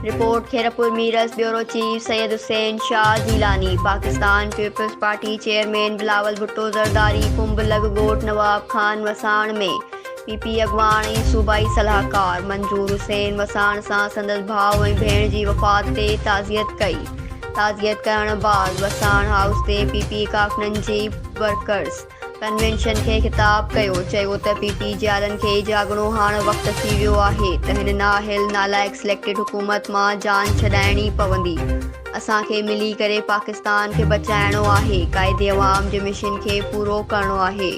Report, Khairpur Mirs, bureau chief, Syed Hussain Shah Jilani, Pakistan Peoples Party chairman Bilawal Bhutto Zardari Kumb لڳ ڳوٺ Nawab Khan Wassan ۾ P P اڳواڻ ۽ صوبائي صلاحڪار منظور حسين وساڻ سان سندس ڀاء ۽ ڀيڻ جي وفات تي تعزيت ڪئي، تعزيت ڪرڻ بعد وساڻ هائوس تي پي پي ڪارڪنن جي ورڪرز. ڪنوينشن کي خطاب ڪيو چيو ته پي ٽي جيارن کي جاڳڻو هاڻ وقت ٿي ويو آهي ته هن نااهل نالائق سليڪٽيڊ حڪومت مان جان ڇڏائڻي پوندي اسان کي ملي ڪري پاڪستان کي بچائڻو آهي قائد عوام جي مشن کي پورو ڪرڻو آهي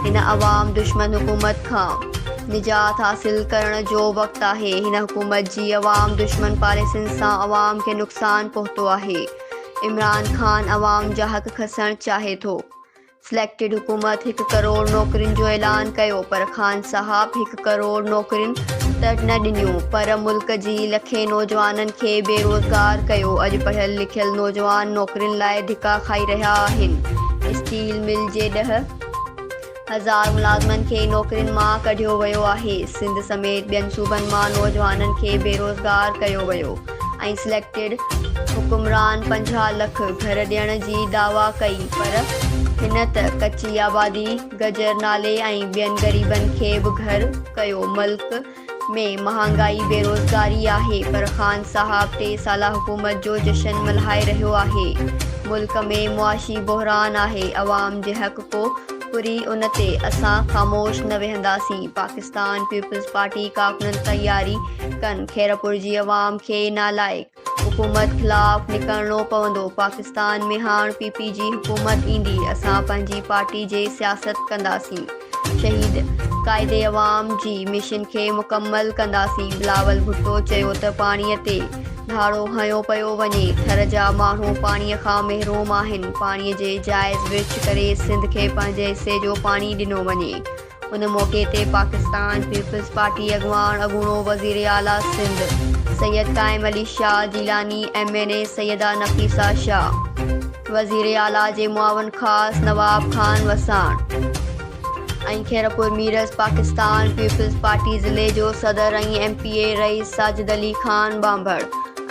هن عوام دشمن حڪومت کان نجات حاصل ڪرڻ جو وقت آهي هن حڪومت جي عوام دشمن پاليسين سان عوام کي نقصان پهتو آهي عمران خان عوام جا حق کسڻ چاهي ٿو. سليڪٽيڊ حڪومت هڪ ڪروڙ نوڪرين جو اعلان ڪيو پر خان صاحب هڪ ڪروڙ نوڪرين ته نه ڏنيون پر ملڪ جي لکين نوجوانن کي بيروزگار ڪيو اڄ پڙهيل لکيل نوجوان نوڪرين لاء ڌڪا کائي رهيا آهن اسٽيل مل جي ڏهه هزار ملازمن کي نوڪرين مان ڪڍيو ويو آهي سنڌ سميت ٻين صوبن مان نوجوانن کي بيروزگار ڪيو ويو ۽ سليڪٽيڊ حڪمران پنجاهه لک گهر ڏيڻ جي دعويٰ ڪئي پر هن ته ڪچي آبادي، گجر نالي ۽ ٻين غريبن کي به گهر ڪيو، ملڪ ۾ مهانگائي، بيروزگاري آهي پر خان صاحب ٽي سالا حڪومت جو جشن ملهائي رهيو آهي، ملڪ ۾ معاشي بحران آهي، عوام جي حق ڪو. پوري ان تي اسان خاموش نه ويهنداسين، پاڪستان پيپلز پارٽي ڪارڪنن تياري ڪن، خيرپور جي عوام کي نالائق حڪومت خلاف نڪرڻو پوندو، پاڪستان ۾ هاڻ پي پي جي حڪومت ايندي، اسان پنهنجي پارٽي جي سياست ڪنداسين، شهيد قائد عوام جي مشن کي مڪمل ڪنداسين، بلاول ڀٽو چيو ته پاڻي تي ڌاڙو هنيو پيو وڃي، ٿر جا ماڻهو پاڻي کان محروم آهن، پاڻي جي جائز ورڇ ڪري سنڌ کي پنهنجي حصي جو پاڻي ڏنو وڃي. ان موقعي تي پاڪستان پيپلز پارٽي اڳواڻ اڳوڻو وزير اعليٰ سنڌ سيد قائم Ali Shah Jilani, M N A Syeda Nafisa Shah, وزير اعليٰ جي معاون خاص نواب خان وساڻ، ۽ خيرپور ميرس پاڪستان پيپلز پارٽي ضلعي جو صدر ۽ M P A Rais Sajid Ali Khan ٻانڀڻ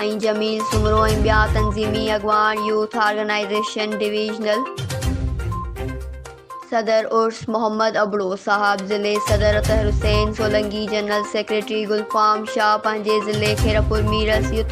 ۽ جميل سومرو ۽ ٻيا تنظيمي اڳواڻ يوٿ آرگنائيزيشن ڊويزنل صدر عرس محمد ابڙو صاحب ضلعي صدر اطهر حسين سولنگي جنرل سيڪريٽري گلفام شاهه پنهنجي ضلعي خيرپور ميرس يوٿ